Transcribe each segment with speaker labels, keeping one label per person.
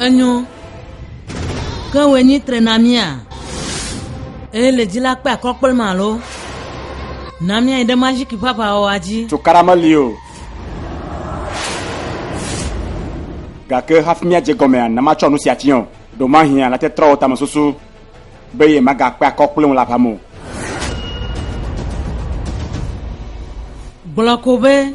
Speaker 1: Enyo. Ke wòe nyi tre na mía. Eye le dzi la kpe akɔ kple ma alo. Na mía yi ɖe maziki ƒe aʋawɔwɔa dzi. Cokara meli o. Gake hafi mía dze gɔmea, na matsɔ nu sia tsiɔ. Ɖo mahia la te trɔwò tame susu be ye maga kpe akɔ kple ŋu la ƒamo. Gblɔ ko be.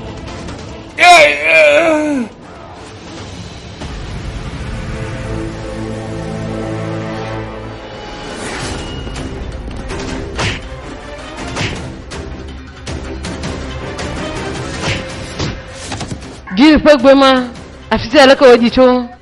Speaker 1: Gil ƒe gbe ma afi sia leke wòdi tso.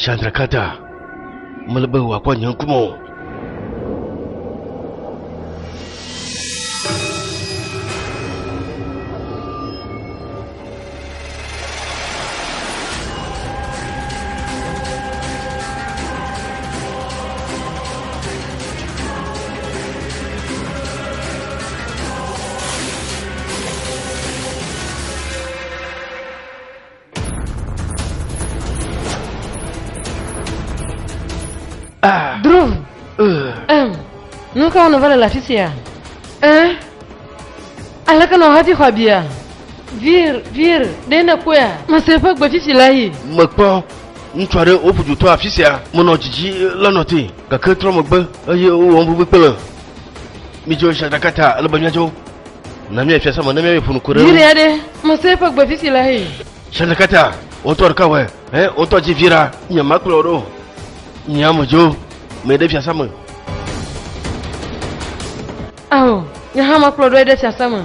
Speaker 1: Shandrakata, mele be wòakpɔ nye ŋkume o. Ah. Drew. Uh. Um, nu ka wònova le le afi sia? Eh? Aleke nɔ hati xɔ abia? Vir, vir, ɖe ne kpɔe a? Mese eƒe gbetsitsi la yi. Mekpɔ ŋutsu aɖe woƒu dutɔ afi sia menɔ dzidzi lenɔ te gake trɔ megbe eye wowɔ ŋugbegbe kple Midzo Shadakata, ele be miadzo. Na mi efia sama, na mi efunu kore. Yiri ya de, mo se eƒe gbe fifi le hei. Shadakata, o tɔ ɖeka wɛ, ɛ o tɔ dzi vi ra. Nye ma kplɔ ɖo, nye amu dzo, me ɖe fia sama. Awo, nye hã ma kplɔ ɖo eɖe fia sama.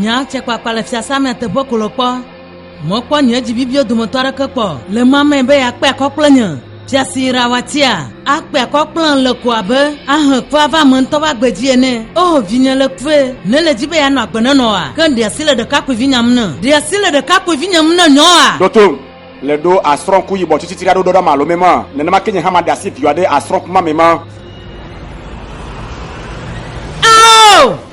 Speaker 1: Nya tse kpakpa le fiasã mea teƒe ko le kpɔ. Mɔkpɔ nye dzi bibio dometɔ aɖeke kpɔ le ma me be yeakpe akɔ kple nye. Fiasi Rawatia, akpe akɔ kplɔm le ko abe ahe kpe ava ame ŋutɔ ƒe agbe dzi ene. Oo, vinye le kue. Nèle edzi be yeanɔ agbe nenɔ oa? Ke ɖe asi le ɖekakpuivinyea ŋu ne? Ɖe asi le ɖekakpuivinyea ŋu ne nyɔ oa? Ɖo tom. Le ɖo asrɔ̃ku yibɔ tsitsitsi ɖa ɖo ɖoɖa ma alo me ma, nenema ke nye hã maɖe asi viwòa ɖe asrɔ̃ku ma me ma. Ao!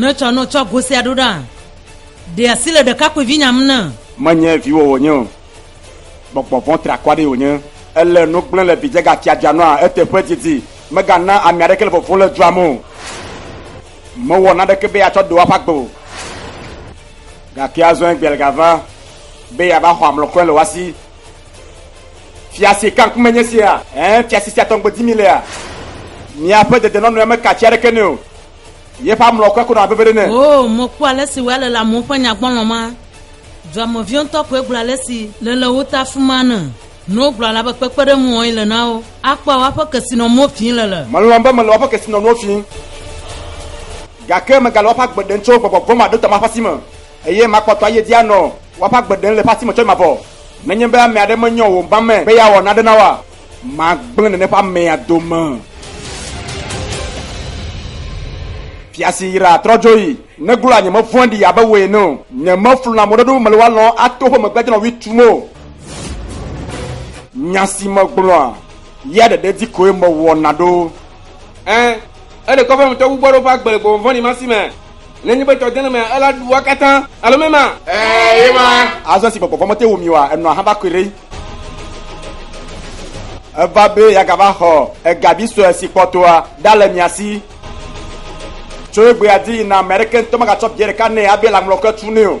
Speaker 1: netsɔ no tsɔ gosia ɖo ɖa ɖe asi le ɖekakpuivi nyam ne menye viwò wònye o gbɔgbɔ vɔ̃ trakɔ aɖee wònye ele nu gblẽ le vidzẽ gatiadzia nɔa eteƒe didi megana ame aɖeke le vovo le dua me o mewɔ naɖeke be atsɔ ɖewo aƒe agbe o Gake azɔ Egbeal gava be yeava xɔ amlɔkɔe le woa si. Fiase ka ŋkume nye sia? Ẽ, fiase sia tɔ ŋugbe dim mílea? Míaƒe dedenɔnɔea meka atsi aɖeke nɛ o. Yeƒe amlɔkɔe ko nɔ abe veve ɖe ene. Oo, mekpɔ ale si wòale le amewo ƒe nyagbɔlɔ̃ ma. Duameviwo ŋutɔ koe gblɔ ale si le le wo ta afi ma ne Nuwo gblɔa la be kpekpeɖeŋu wɔe le na wo. Akpɔa woaƒe kesinɔnuwo fii le le. Melɔ̃ be mele woaƒe kesinɔnuwo fii, gake megale woaƒe agbe ɖem tso gbɔgbɔ vɔ̃maɖotɔ ma ƒe asi me, eye makpɔtɔ ayi edzi anɔ woaƒe agbe ɖem le eƒe asi me tsɔe mavɔ. Nenye be ame aɖe menyɔ wò ŋba me be yeawɔ nane na woa, magblẽ nène ƒe amea dome. Fia si yraa trɔ dzo yi. Neglo la nyemevɔ̃ɖi abe wò ene o. Nyemefluna mɔɖeɖo be mele woa lɔ̃m ato woƒe megbea dzi nɔ ɣli tum o. Nya si megblɔa, ya ɖeɖe dzi koe mewɔna ɖo. Ẽ, ele kɔƒe me tɔgbugbɔ aɖewo ƒe agbe le gbɔgbɔ vɔ̃ɖi ma si me. Nenye be tɔ dena mea, ela ɖua katã, alo mema? Ẽ, ye ma. Azɔ esi gbɔgbɔ vɔ̃ mete ŋu mi oa, enɔa haba koe ɖe. Eva be yeagava xɔ ega vi sue si kpɔtɔa ɖa le mia si. Tso egbea dzi yina, ame aɖeke ŋutɔ megatsɔ bia ɖeka nɛ abe lãmlɔke tu nɛ o.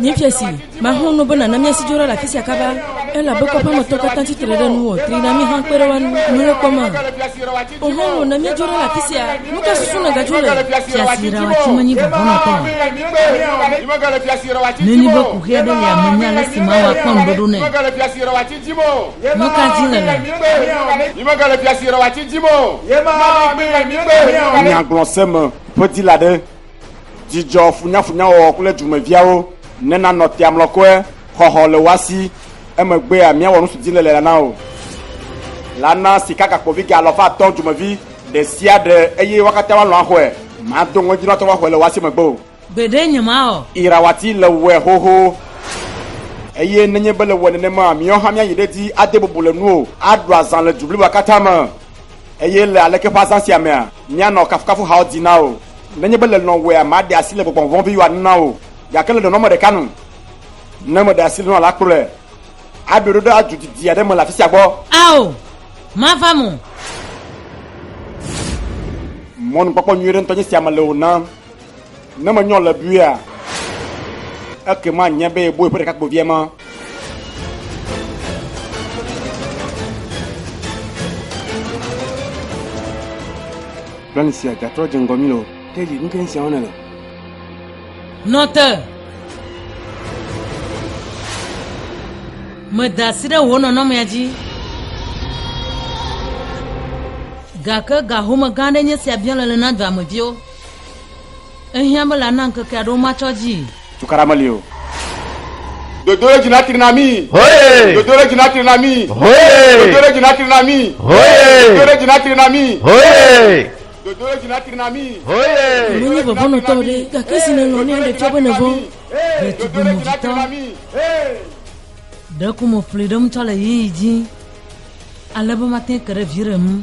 Speaker 1: Míefia si maho no bena na míasi dzo ɖa le afi sia kaba, elabe kɔƒea me tɔ katã tsi tre ɖe nuwò, tri na mí hã kpe ɖe wo ŋu. Mele kpɔm a? Oho, na míadzo ɖa le afi sia. Nu ka susu nègadzo le? Fia si ɖawa tsi menyi vɔvɔnɔtɔ o. Nenye be ku ʋɛ ɖe lia menye ale si mawa kpɔ ŋuɖoɖo nɛ. Nu ka dim nèle? Nyagblɔse me ƒe dila ɖe. Dzidzɔ funyafunyawɔwɔ kple dumeviawo nena nɔ tea mlɔkɔe, xɔxɔ le woa si, emegbea míawɔ nusidzilele la na wò. La na sikagakpovi ga alafa atɔ̃ dumevi ɖe sia ɖe eye wo katã woalɔ̃ axɔe. Mado ŋɔdzi na tɔgbuiawo axɔe le woa si megbe o. Gbeɖe nyemawɔ. Irawati le wɔe xoxo. Eye nenye be le wɔe nenema, míawo hã míayi ɖe edzi ade bubu le nuwò, aɖu azã le du bliboa katã me. Eye le aleke ƒe azã sia mea, míanɔ kafukafu hawo di na wò. Nenye be le nɔwòea, maɖe asi le gbɔgbɔ vɔ̃ viwòa nu na wò, gake le nɔnɔme ɖeka nu, ne meɖe asi le nɔa la kplɔe aɖoe ɖo ɖe adu didi aɖe me le afi sia gbɔ. Ao, mava mo. Mɔnukpɔkpɔ nyui ɖe ŋutɔ nye sia mele wò nam. Ne menyɔ le buia, ekema nye be boe ƒe ɖekakpuivia ma. Plan sia gatrɔ dze ŋgɔ mi le o. Ke dzi nuke sia wɔna le. Nɔ te. Meda asi ɖe wò nɔnɔmea dzi. Gake ga home gã aɖe nye sia biã le le na dɔameviwo. Ehiã be la na ŋkeke aɖewo matsɔ dzii. Tukaɖa meli o. Dodo ɖe dzi natri na mí. Hoye. Dodo ɖe dzi natri na mí. Hoye. Dodo ɖe dzi natri na mí. Hoye. Dodo ɖe dzi natri na mí. Hoye. Dodo ɖe dzi natri na mí. Hoye. Menye vɔvɔnɔtɔ o ɖe, gake zi nèlɔ̃ ne aɖe tsɔ be nèvɔ̃. Ɖetugbi movitɔ. Ɖeko mo ƒli ɖem tsɔ le ɣeyiɣi dzi, ale be mate ŋu ke ɖe viɖe ŋu.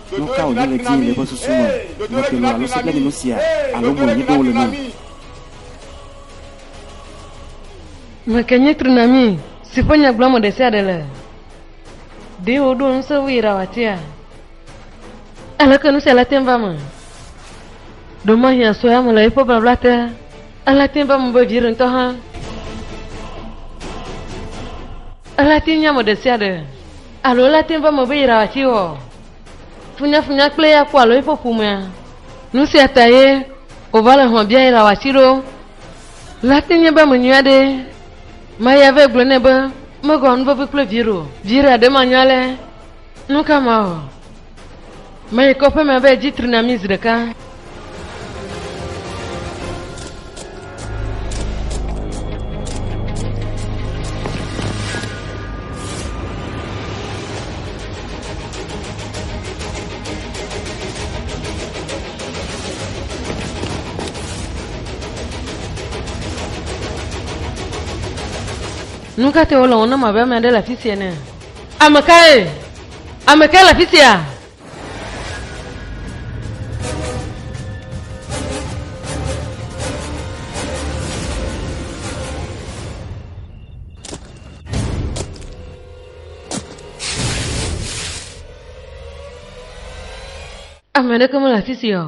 Speaker 1: Nu ka wònye ɣedie le eƒe susu me? Nyɔkelo alo sebleninu sia alo moe míeɖo wole na? Ame kae nye tsunami si ƒe nya gblɔm ame ɖe sia ɖe le? Ɖe woɖo ŋusẽ vɛ ɖa wòatea? Aleke nu sia le tem va eme? Ɖemahi asɔe ame le eƒe blabla te ale tem va eme be viɖe ŋutɔ hã ale tem nye ame ɖe sia ɖe. Alo ele te ŋu be ame be yra wòatsi wɔ funyafunya kple eya kpɔ alo eƒe ƒomea. Nu sia ta ye wòva le hlɔ̃ bia yra wòatsi ɖo. Lea te nye be ame nyui aɖee. Maria vɛ gblɔ nɛ be megawɔ nu vevi kple viɖe o. Viira ɖe manyɔ alea, nu ka mawɔ? Meyi kɔƒe me be dzi tri na mi zi ɖeka. Nu ka te wole wɔm na mavame ɖe le afi sia ne? Ame kae? Ame kae le afi sia? Ame aɖeke mele afi sia o.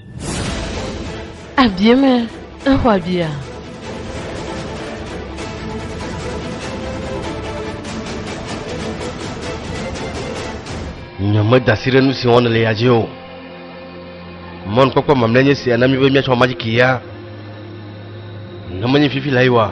Speaker 1: Abie me exɔ abia. Nyemedasi ɖe nu si wɔm le ya dzi o. Mɔnukpɔkpɔ mamlɛ nye sia na mi be miatsɔ ma dzi kia. Ne menye fifi la yi wa.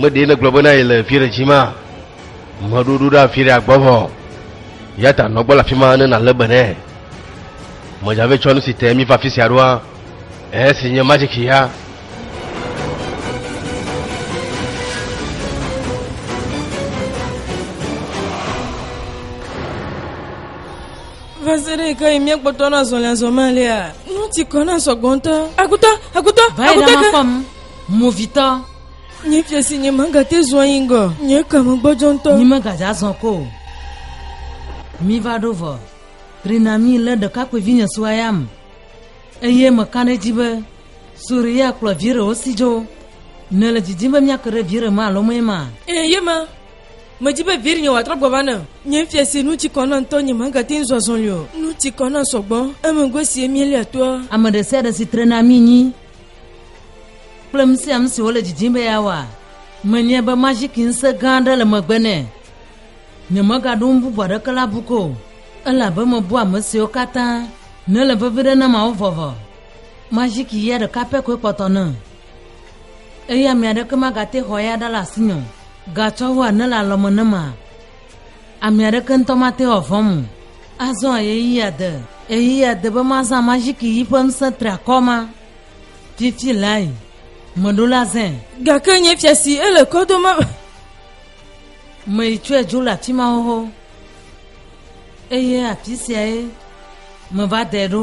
Speaker 1: meɖee le gblɔ bena yi le fi ɖe dzi ma meɖoɖo ɖe afi ɖe agbɔ vɔ ya ta nɔgbɔ le afi ma ne nalé be nɛ medzave tsɔ nu si te mi va fi sia ɖoa Esi nye magic ya. Va se ɖe ke yi míekpɔtɔ na zɔlɛzɔmɛ lia. Nu ti kɔ na sɔgbɔntɔ. Akutɔ, akutɔ, akutɔ. Vayi ɖe ma fɔm. Movitɔ. Nye fia si nye manga te zua yi ŋgɔ. Nye kame gbɔdzɔ ŋutɔ. Nye manga dza zɔn ko. Mi va ɖo vɔ. Trina mi le ɖekakpuivi nye sua ya me. Eye meka ɖe edzi be Suriya kplɔ vi ɖewo si dzo. Nèle didim be míake ɖe vi ɖe me alo mee ma? Ee, ye ma. Medi be vi ɖinye wòatrɔ gbɔ va nam. Nye fia si nu tsi kɔ na ŋutɔ nye magate ŋu zɔ azɔli o. Nu tsi kɔ na sɔgbɔ. Emegbe sie míelia toa? Ame ɖe sia ɖe si tre na mí nyi kple nu sia nu si wòle didim be yeawɔ. Menyae be maziki ŋusẽ gã aɖe le megbe nɛ. Nyemegaɖo nu bubu aɖeke le abu ko o, elabe mebu ame siwo katã nele vevi ɖe na Mawu vɔvɔ. Majiki ya ɖeka pɛ koe kpɔtɔ nam, eye ame aɖeke magate xɔ eya ɖa le asinye o. Gatsɔ wu ane le alɔme nam ma, ame aɖeke ŋutɔ mate ŋu avɔ̃m o. Azɔ ɣeyiɣia de, ɣeyiɣia de be mazã majiki yi ƒe ŋusẽ triakɔ ma. Fifi lae meɖo la zãe. Gake nye fia si ele kɔ dom Me tsɔe dzo le afi ma xoxo. Eye afi siae me va dɛ ɖo.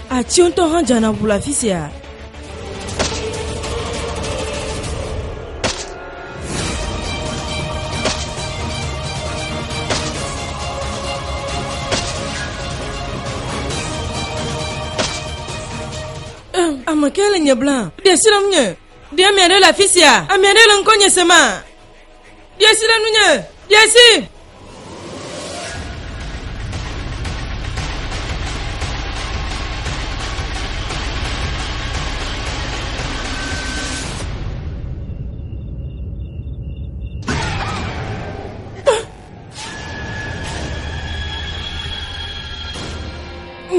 Speaker 1: Atiwo ŋutɔ hã dzana ŋu le afi sia. Ame kae le nye blam? Ɖe srɔ̃m nye. Ɖe ame aɖe le afi sia? Ame aɖe le ŋkɔ nye sema? Ɖie si ɖe nunye, ɖie si.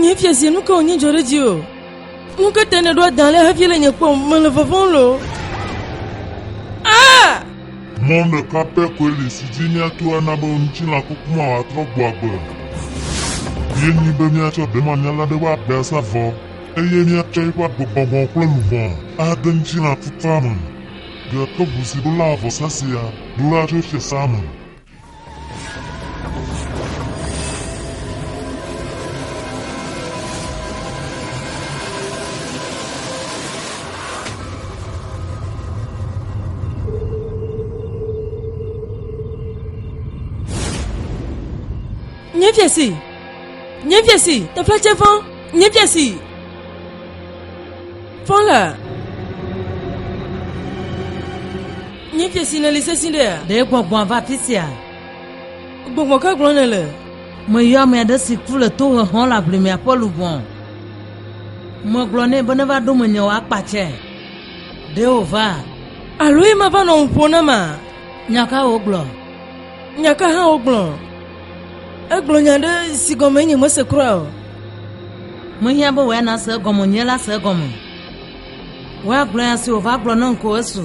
Speaker 1: Nye fia si nu ka wònye dzɔ ɖe dzi o. Nu ka ta nèɖo adã le hafi le nye kpɔm? Mele vɔvɔm loo. Ah! Mɔ ɖeka pɛ koe li si dzi míato ana be ŋutilã kuku ma wòatrɔ gbɔ agbe. Míenyi be míatsɔ demamia la ɖe eƒe aƒea sa vɔ, eye míatsɔ eƒe agbe gbɔgbɔ kple luʋɔ ade ŋutilã kukua me. Ɖe tovo si ɖola vɔsa sia ɖola tso fiasã me? Nye fiase! Nye fiase! Teƒe dze ƒã! Míebia si fɔ la. Míebia si nèli sesĩ ɖea. Ɖe gbɔgbɔa va afi sia. Gbɔgbɔ ka gblɔ nèle? Meyɔ ame aɖe si ku le tohexɔ le aʋlimea ƒe luʋɔ. Megblɔ nɛ be neva ɖo menye wò akpa tsɛ. Ɖe wòva? Alo ye mava nɔ ŋu ƒo na ma? Nya ka wogblɔ? Nya ka hã wogblɔ? Egblɔ nya ɖe si gɔme nye mese kura o. Mehiã be wòya nase egɔme, nye la se egɔme. Wòya gblɔ nya si wòva gblɔ nam ko esu.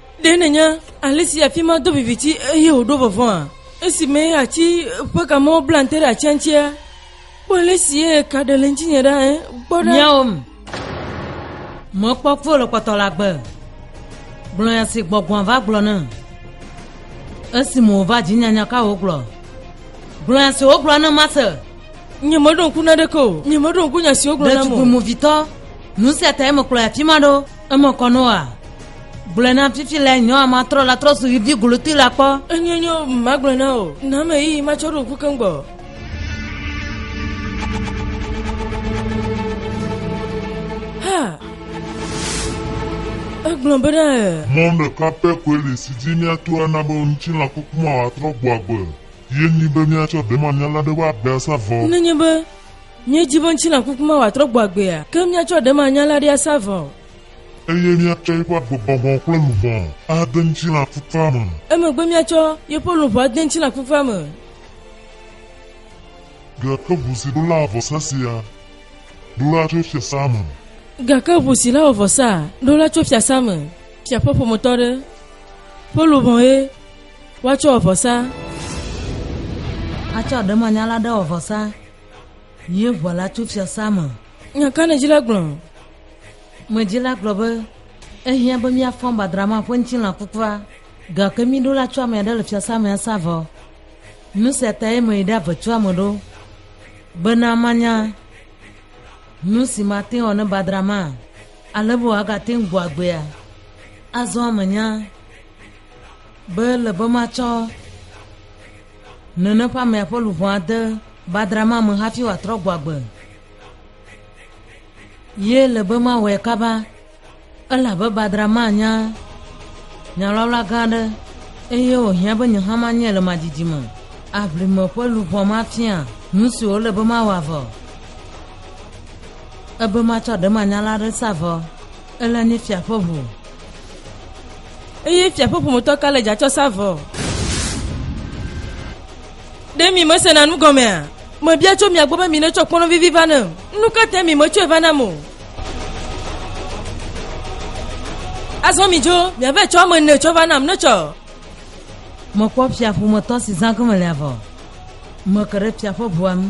Speaker 1: Ɖe nènya ale si afi ma do viviti eye wòɖo vɔvɔ̃a? Esime ati ƒe kamewo bla te ɖe atia ŋutia, kpɔ ale si ka ɖe le ŋutinye ɖa ɛ. Kpɔ ɖa. Miawo m. Mekpɔ kpɔ le kpɔtɔ la gbe. Gblɔ ya si gbɔgbɔa va gblɔ ne. Esime wòva dzi nyanya ka wògblɔ. Gblɔ ya si wògblɔ ne mase. Nye meɖo ŋku na ɖeke o. Nye meɖo ŋku nya si wogblɔ nam o. Ɖetugbi movitɔ. Nu sia tae mekplɔ ya fi ma ɖo. Eme kɔ nɔ wa. Gblɔe na fifi le nyɔa ma trɔ la trɔ su yivi golotoe la kpɔ. Enye nyɔ ma gblɔe na o. Na me yi ma tsɔ ɖo ŋku keŋ gbɔ. Ha. Egblɔ be ɖe. Mɔ ɖeka pɛ koe li si dzi míato ana be ŋutilã kuku ma wòatrɔ gbɔ agbe. Ye nyi be míatsɔ ɖemanyala ɖe ƒe agbe asa vɔ. Nenye be Míedi be ŋutilã kuku ma wòatrɔ gbɔ agbea, ke míatsɔ ɖemanya la ɖi asa vɔ. Eye míatsɔ yeƒe agbegbɔgbɔ kple luʋɔ ade ŋutilã kukua me. Emegbe míatsɔ yeƒe luʋɔ ade ŋutilã kukua me. Gake ʋu si ɖola vɔsa sia, ɖola tso fiasã me. Gake ʋu si la wɔ vɔsaa, ɖola tso fiasã me. Fia ƒe ƒometɔ aɖe ƒe luʋɔe woatsɔ wɔ vɔsa. Atsɔ ɖemanya la ɖe wɔ vɔsa. Ye ʋɔa la tso fiasã me. Nya ka nèdzila gblɔ? Medzila gblɔ be, Ehiã be míafɔ gbadra ma ƒe ŋutilã kukua, gake mí ɖo la tso ame aɖe le fiasã me asa vɔ. Nu sia tae meyi ɖe avetua me ɖo, bena manya nu si mate ŋu awɔ ne gbadra ma ale be wòagate ŋu gbɔ agbea. Azɔ menya be ele be matsɔ Nene ƒe amea ƒe luʋɔ ade badra ma me hafi wòatrɔ gbɔ agbe. Ye le be mawɔe kaba, elabe badra ma nya nyalɔla gã aɖe, eye wòhiã be nye hã manyɛ le madidi me. Aʋlime ƒe luʋɔ ma fia nu si wòle be mawɔ avɔ, ebe matsɔ ɖemanyala aɖe sa vɔ. Ele nye fia ƒe ʋu. Eye fia ƒe ƒometɔ ka le dza tsɔ sa vɔ? Ɖe mi mesena nu gɔmea? Mebia tso mia gbɔ be mi netsɔ kpɔnɔ vivi va ne. Nu ka te mi metsɔe va nam o? Azɔ mi dzo, miave tsɔ ame ne tsɔ va nam netsɔ. Mekpɔ fia ƒometɔ si zã gɔme le avɔ. Meke ɖe fia ƒe ʋua ŋu.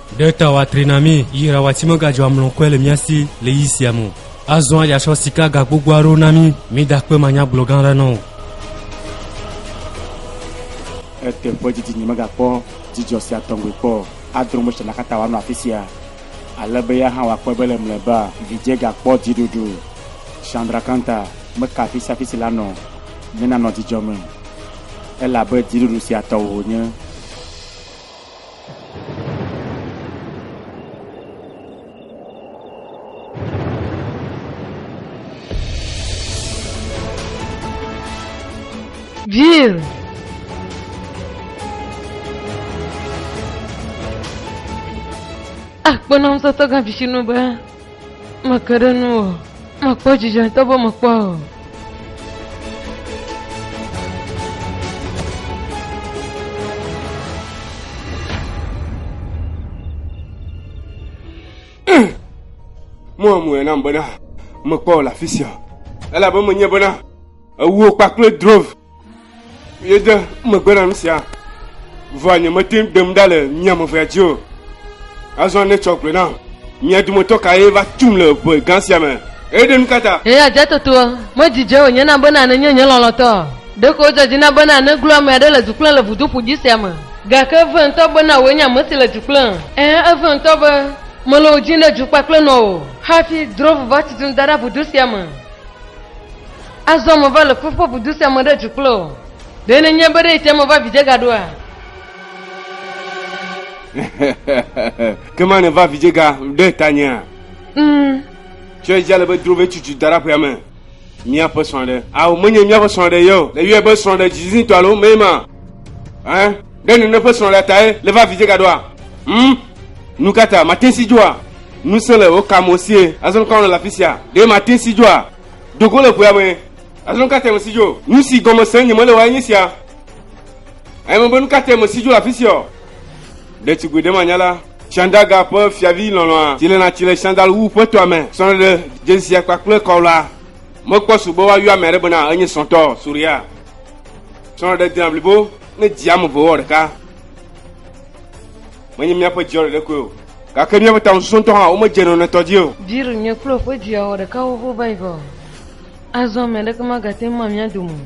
Speaker 1: Ɖe ta wòatri na mí yi rawati megadzɔ amlɔkɔe le mía si le yi sia me o. Azɔa yeatsɔ sika ga gbogbo aɖewo na mí. Mida kpe manyagblɔ gã aɖe na wò. Eteƒe didi nyemegakpɔ dzidzɔ sia tɔŋgbe kpɔ o. Adrɔ Mose la katã wòanɔ afi sia, ale be ya hã wòakpɔe be le mlɔeba vidzĩa gakpɔ dziɖuɖu. Chandrakanta meka afi sia afi si la nɔ ne nanɔ dzidzɔ me, elabe dziɖuɖu sia tɔwò wònye. Jill! Akpɔ nɔnɔmetɔtɔ gã visinɔ be Meke ɖe nu o. Mekpɔ dzidzɔ ŋutɔ be mekpɔ o. Moa moe nam bena mekpɔ le afi sia. Elabe menye bena ewuwo kpakple drove Yede megbe na nu sia, vɔa nyemete ŋu ɖem ɖa le mia me vea dzi o. Azɔ ne tsɔ gblɔe nam, mia dometɔ kae va tum le ʋe gã sia me? Eye ɖe nu ka ta? Eye adzɔtɔtoa medzidze wònye na bena nenye nye lɔlɔ̃tɔ o. Ɖeko wòdzɔ dzi na bena neglo ame aɖe le du kplɔm le vudo ƒu dzĩ sia me. Gake eve ŋutɔ bena wòe nye ame si le du kplɔm. Ɛ̃, eve ŋutɔ be mele wò dzim ɖe du kpakple nɔwò o, hafi drɔ̃ ʋu va tutum da ɖe vudo sia me. Azɔ meva le ƒuƒoƒo du sia me ɖe du kple wò. Ɖe nenye be ɖe etia meva vidzẽ ga ɖoa? Ke ma nèva vidzẽ ga ɖe tanyea? Mm. Tsɔe dzi ale be dro vɛ tutu da ɖe aƒea me. Míaƒe srɔ̃ɖe. Ao, menye míaƒe srɔ̃ɖe ye o. Leyɔe be srɔ̃ɖe dzidzizitɔ alo mee ma. Ɛ? Ɖe nene ƒe srɔ̃ɖea tae leva vidzẽ ga ɖoa? Mm. Nu ka ta mate si dzoa? Ŋusẽ le wò kame o sie. Azɔ nu ka wɔna le afi sia? Ɖe mate si dzoa? Do go le ƒea me. Azɔ nu ka te mèsi dzo? Nu si gɔme se nye mele wae nye sia. Eye mebe nu ka te mèsi dzo le afi sia o. Ɖetugbui ɖemanyala Shandaga ƒe fiavi lɔlɔ̃a si lena tsi le Shandalwu ƒe tɔa me srɔ̃ ɖeɖe dzedzia kpakple kɔwla mekpɔ su be woayɔ ame aɖe bena enye srɔ̃tɔ Surya. Srɔ̃ɖeɖe dina blibo ne dzi ame eve wɔ ɖeka. Menye míaƒe dziɔ ɖe ɖekoe o. Gake míaƒe taŋususu ŋutɔ hã womedze nɔnɔetɔ dzi o. Jill nye kple woƒe via wɔ ɖeka xoxo va yi va o. Azɔ ame aɖeke magate ŋu ma mía dome o.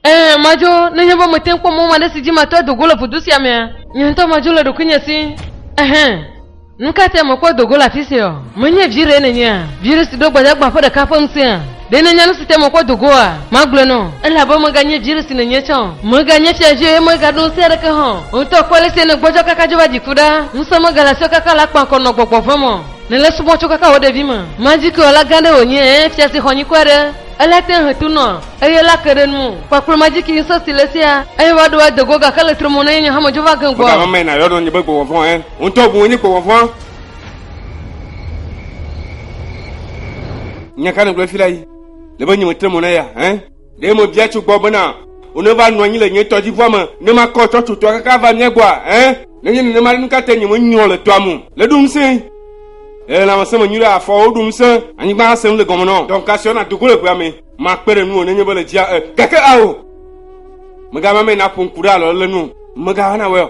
Speaker 1: Ẽ, madzo, nenye be mete ŋu kpɔ mɔ aɖe si dzi mate ŋu ado go le ƒodo sia mea. Nye ŋutɔ madzo le ɖokuinye si. Ɛhɛ̃. Nu ka tae mekpɔ do go le afi siaɔ? Menye vi ɖee nènyea? Vi ɖe si ɖo gbadagba ƒe ɖeka ƒe ŋusẽa? Ɖe nènya nu si tae mekpɔ do goa? Magblɔe nɔ wò. Ele abe meganye vi ɖe si nènye tsã o. Mèganye fiavi o eye mègaɖo ŋusẽ aɖeke hã o. Wò ŋutɔ kpɔ ale si nègbɔdzɔ kaka dzo va dziku ɖa. Ŋusẽ megale asiwò kaka le akpa ŋkɔ nɔ gbɔgbɔ vɔ̃ me o. Nèle subɔm tso kaka wò ɖevime. Madzikewɔla gã aɖe wònye, ɛ̃, fia si xɔ nyikɔ aɖe. Ele te hetunɔ. Eye la ke ɖe nu o. Kpakplɔma dzi ki ŋusẽ si le esia. Eye va ɖo ade go gake le tre mo na ye nye hame dzo va ge gbɔ. Mega mame na yɔ nɔ nye be gbɔgbɔ vɔ̃ ɛ. Wo ŋutɔ bu wo nyi gbɔgbɔ vɔ̃. Nya ka nègblɔ fi la yi? Le be nye me tre mo na ya ɛ. Ɖe me bia tso gbɔ bena wo ne va nɔ anyi le nye tɔdzivua me ne ma kɔ tsɔ tso tɔa kaka ava mia gbɔa ɛ? Ne nye nenema ɖe nu ka te nye me nyrɔ le tɔa mo le ɖo ŋusẽ le lãmesẽ me nyuiɖe afɔwo ɖo ŋusẽ anyigba asẽ le gɔme nɔ dɔm ka siɔ na do go le ʋea me. Makpe ɖe nuwò nenye be le dzia e gake ao. Mègana ame naƒo ŋku ɖe alɔ le nu. Mègana wɔ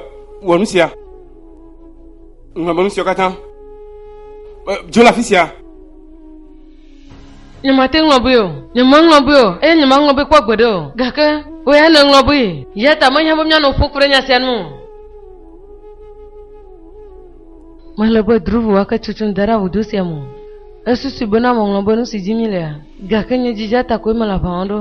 Speaker 1: wɔ nu sia. Ŋlɔ be nu siawo katã. Dzo le afi sia. Nyemate ŋlɔ be o, nyemeŋlɔ be o, eye nyemeŋlɔ be kpɔ gbeɖe o. Gake wò ya nèŋlɔ be. Eya ta mehiã be míanɔ ƒo ku ɖe nya sia nu o. Mele be Dhruv ake tsotsom da ɖe avudo sia me o. Esusui bena meŋlɔ be nusi dim mílea, gake nye dzidzea ta koe mele aʋa wɔm ɖo.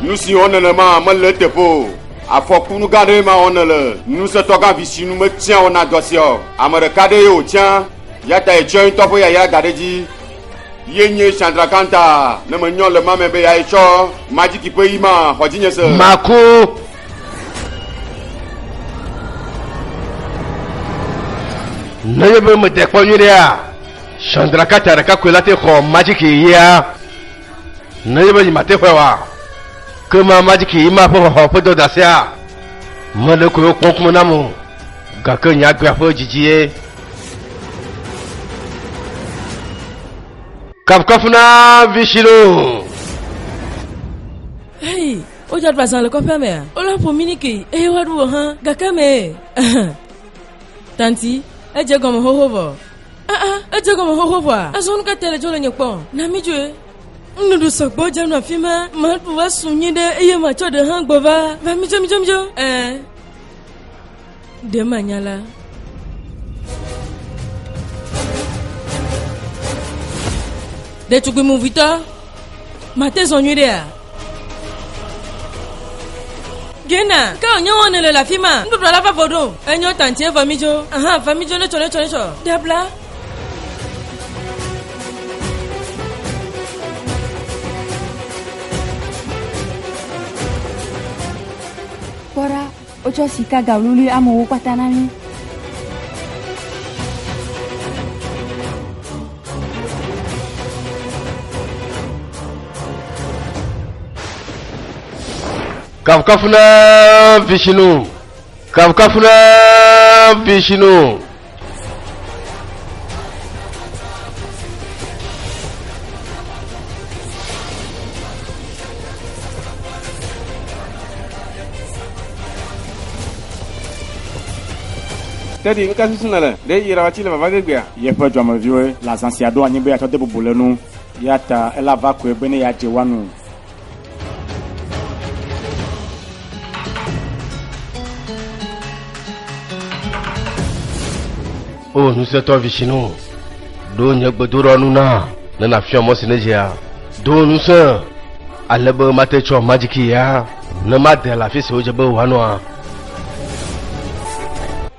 Speaker 1: Nu si wɔ nenema mele eteƒe o. Afɔku nu gã ɖee ma wɔ nele. Ŋusẽtɔ gã vi si nu metia o na dɔ sia o. Ame ɖeka ɖee wòtia, ya ta yetsɔe ŋutɔ ƒe yayra da ɖe edzi. Ye nye Chandrakanta, ne menyɔ le ma me be yae tsɔ majiki ƒe yi ma xɔ dzinye se. Maku. Nenye be mede kpɔ nyuie ɖea, Chandrakanta ɖeka koe la te xɔ majiki yia. Ne yebe yi mate xɔe wa, ke ma ma dziki yi ma ƒe xɔxɔ ƒe dɔdasia. Me ɖe koe wokpɔ ŋkume nam o, gake nye agbea ƒe dzidzi ye. Kafukafu na Vishinu. Hei, wodze aɖu azã le kɔƒea mea? Wole ƒo mí niki eye woaɖu wò hã gake mee. Tanti, edze gɔme xoxo vɔ. Aa, edze egɔme xoxo ʋɔa. Azɔ nu ka ta le dzo le nye kpɔ? Na mi dzoe. Nuɖuɖu sɔgbɔ dze nɔ afi ma. Maɖu va su nyi ɖe eye matsɔ ɖe hã gbɔ va. Va mi dzo mi dzo mi dzo. Ɛɛ. Ɖe manya la. Ɖetugbui movitɔ. Mate zɔ nyuiɖea? Gena, ke wònye wɔn nèle le afi ma? Nuɖuɖua la va vɔ ɖo. Enyo tantie vɔ midzo. Aha, va midzo netsɔ netsɔ netsɔ. Dabla. Kpɔ ɖa, Wotsɔ sika galuli amewo kpata na mí. Kafukafu na Vishnu. Kafukafu na Vishnu. Teddy nu ka susu nèle? Ɖe yi ɖawatsi le vava gegbea? Yeƒe dɔmeviwoe le azã sia ɖo anyi be yeatsɔ de bubu le nu. Eya ta ele ava koe be ne yeadze woa nu. O ŋusẽtɔ visinu, ɖo nye gbedoɖɔ nu na ne nàfiɔ mɔ si nedzea. Do ŋusẽ ale be mate tsɔ magiki ya ne made le afi si wodze be wòanɔa.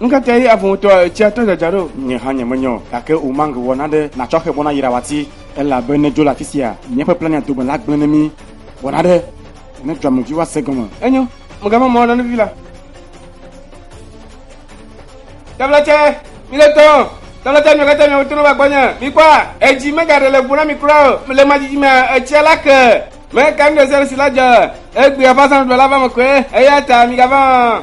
Speaker 1: ŋkeke yi avotɔ etsia tɔ dzadza ɖo nye hã nye menyɔ gake o mang wɔ naɖe natsɔ xe bɔna yira wati elabe ne dzo le afi sia míaƒe plania dome la gblẽ ne mí wɔ naɖe ne dzo amevi woase gɔme enyo megava mɔ nanevi la Tɛvlɛtsɛ, mi le tɔ. Tɛvlɛtsɛ, mi kɛtɛ mi wotɔ nɔ va gbɔ nye. Mi kpɔ a, edzi me gaɖe le gu na mi kura o. Le ma dzidzi mea, etsia la ke. Me ka nu ɖe sia ɖe si la dze. Egbe aƒa san ɖuɖɔ la va me kɔe. Eya ta mi gava.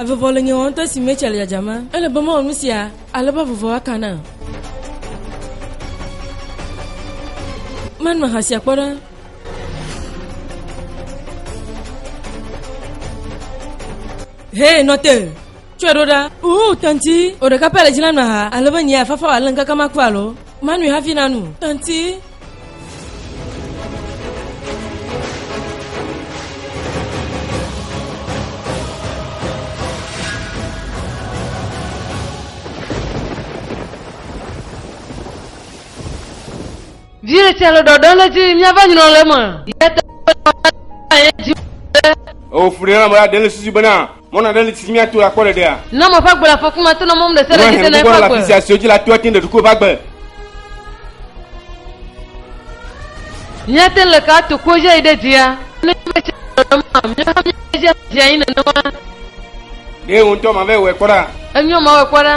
Speaker 1: Avuvɔ le nye wɔm to esi Mitchell dzadzam. Ele be mewɔ nu sia ale be avuvɔ aka nam. Menɔ ha sia kpɔ ɖa. Hee, nɔ te. Tsɔe ɖo ɖa. Uu, tanti, wò ɖeka pɛ le dzi la nɔ ha ale be nye afafa wòale ŋkeke ma ku alo manui hafi nanu. Tanti. Viye tse le ɖɔɖɔ le dzi míava nyrɔ le me. Yete ye dzi. Ofuri na mɔra dele sisi bena. Mɔna ɖe li si míato la kpɔ ɖeɖea? Ne mɔ ƒe agbe le afɔku me ato na mɔm ɖe sia ɖe dzi tena eƒe agbe. Afisia siwo dzi la toa tin ɖe ɖokuiwo ƒe agbe. Míate le ka to kpo dzi ayi ɖe dzia? Ne míaƒe tsi nenema, míawo hã míaƒe dzi adzi anyi nenema. Ɖe wò ŋutɔ mava wɔe kpɔ ɖa. Enyo mawɔe kpɔ ɖa.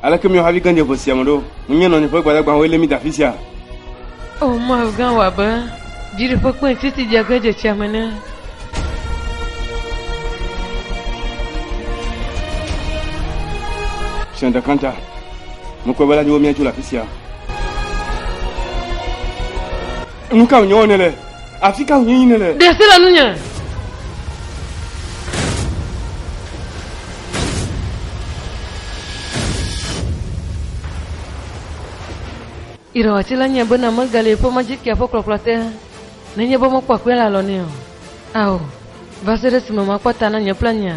Speaker 1: Aleke míaƒe havi gã dze ƒe sia me ɖo? Menye nɔnye ƒe gbadagbawoe lé mí de afi sia? O Mawu gã, wɔ abe dziɖuƒe kpẽ si si dze ge dze tsia me ene. Ƒe ɖeka ta, mekpɔe be la dzi be míatso le afi sia. Nu ka wònye wɔne le? Afi ka wònye yine le? Ɖe asi le nunye. Irɔwati la nye bena megali eƒe magikia ƒe kplɔkplɔ te nenye be mekpɔ akpee le alɔ nɛ o. Ao, va se ɖe esime makpɔ ta na nye pleŋea.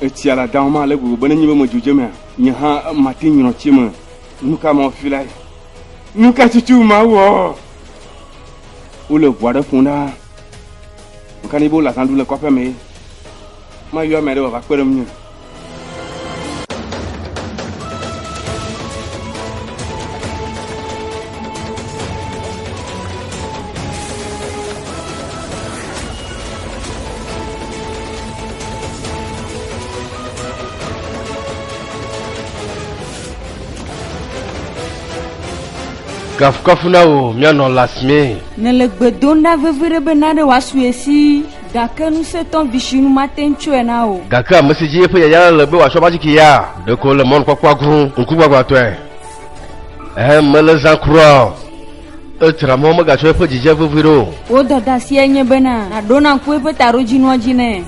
Speaker 1: Etsia le Adam me ale gbegbe be nenye be medzo dze emea, nye hã mate ŋu nyrɔ tsi me. Nuka Mawu filae? Nuka tutu Mawu wɔ? Wole ʋu aɖe ƒom ɖaa. Meka ne be wole azã ɖum le kɔƒea mee. Mayɔ ame aɖe wòava kpe ɖe ŋunye. Kafukafu na wò, mía nɔ Lasmee. Nèle gbe dom ɖa veviɖe be na ɖe wòasue si, gake ŋusẽtɔ visinu mate ŋu tsɔe na wò. Gake ame si dzi eƒe yayra le le be wòatsɔ ƒe atsike ya, ɖeko wòle mɔnukpɔkpɔa grom ŋkugbagbãtɔe. Ɛ̃, mele zã kura o. Edzra mɔ megatsɔ eƒe dzidzia vevie ɖo o. Wò dadasia nye bena nàɖo nàku eƒe taɖodzinua dzi nɛ.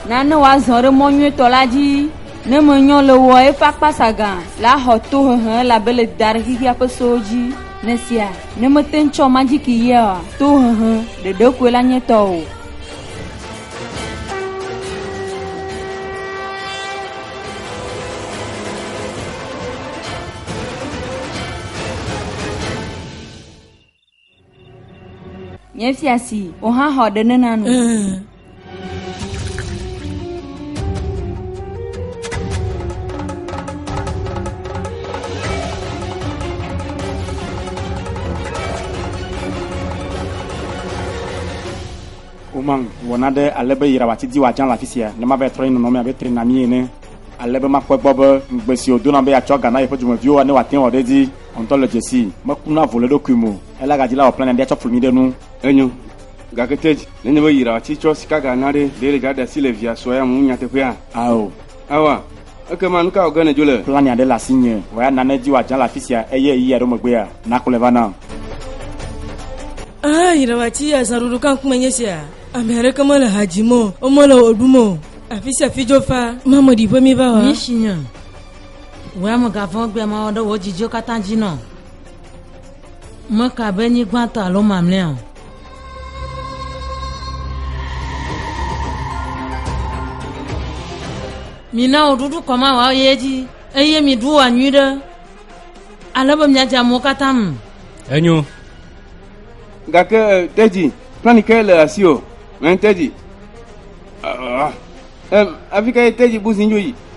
Speaker 1: Na ne wòazɔ ɖe mɔ nyuietɔ la dzi. Ne menyɔ le ewɔa, eƒe akpasagã la axɔ tohehe elabe le da ɖe xexea ƒe sewo dzi. Nesia, ne mete ŋu tsɔ magiki yea, tohehe, ɖeɖe koe la nye tɔwò. Nye fia si, wò hã xɔ ɖe nena nu. Woman wɔna ɖe ale be yira wòatidi wòadza le afi sia ne mava trɔ ye nɔnɔme abe trena mi ene ale be makpɔe gbɔ be ŋugbe si wòdona be yeatsɔ ga na yeƒe dumeviwo ne wòate wɔ ɖe edzi ŋutɔ le dzesii. Mekuna vo le eɖokui me o, elagadzi la wòplana be atsɔ flu mi ɖe nu. Enyo, Gake te dzi, nenye be yra ati tsɔ sikaga na ɖe, ɖe yegaɖe asi le via srɔ̃ ya ŋu nyateƒea? Ao. Aoa. Ekema nu ka wɔ ge nèdzo le? Plan aɖe le asinye wòayi ana ne edzi wòadzra le afi sia eye ɣeyiɣi aɖewo megbea, nàkplɔe va nam. Aa, yra ati ya zã ɖoɖo ka ŋkume nye esia? Ame aɖeke mele ha dzim o, womele wɔ ɖum o. Afi sia afi dzo faa. Mameɖiƒe míva wa. Yi tsinye. Wòe ame gãvɔ̃ gbea mawɔ ɖe wò dzidziwo katã dzi nɔ. Meka be nyigbãtɔ alo mamlɛa o. Mina wò ɖuɖu kɔma wɔ ye edzi eye miɖu wɔ nyui ɖe ale be miadze amewo katã me. Enyo. Gake eh, tedzi plani ke le asi o. Mɛ eh, tedzi. Ah, ah, ah. Em, afi ke tedzi buzi nyo yi.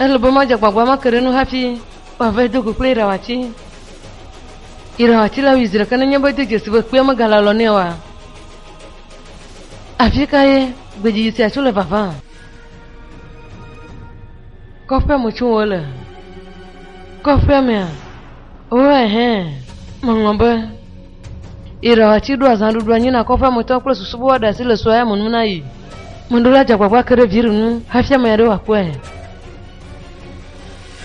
Speaker 1: Ele be madze agbagba make ɖe enu hafi woava yi do go kple Irawati. Irawati la wui zi ɖeka nenye be edo dzesi be kpea megale alɔ nɛ oa? Afikae gbedzidzi sia tso le vavã? Kɔƒea me tsom wole. Kɔƒea mea? Oo, ɛhɛ̃, meŋlɔ be. Irawa tsi ɖo azã ɖuɖu anyi na kɔƒea me tɔwo kple susu be woaɖe asi le sua ya me nu na yi. Mɔɖo la dze agbagba ke ɖe Viri ŋu hafi ame aɖe wòakpɔe.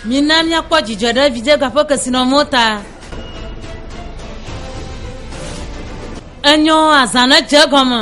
Speaker 1: Mina míakpɔ dzidzɔ ɖe vidzega ƒe kesinɔnuwo ta. Enyo azã ne dze egɔme.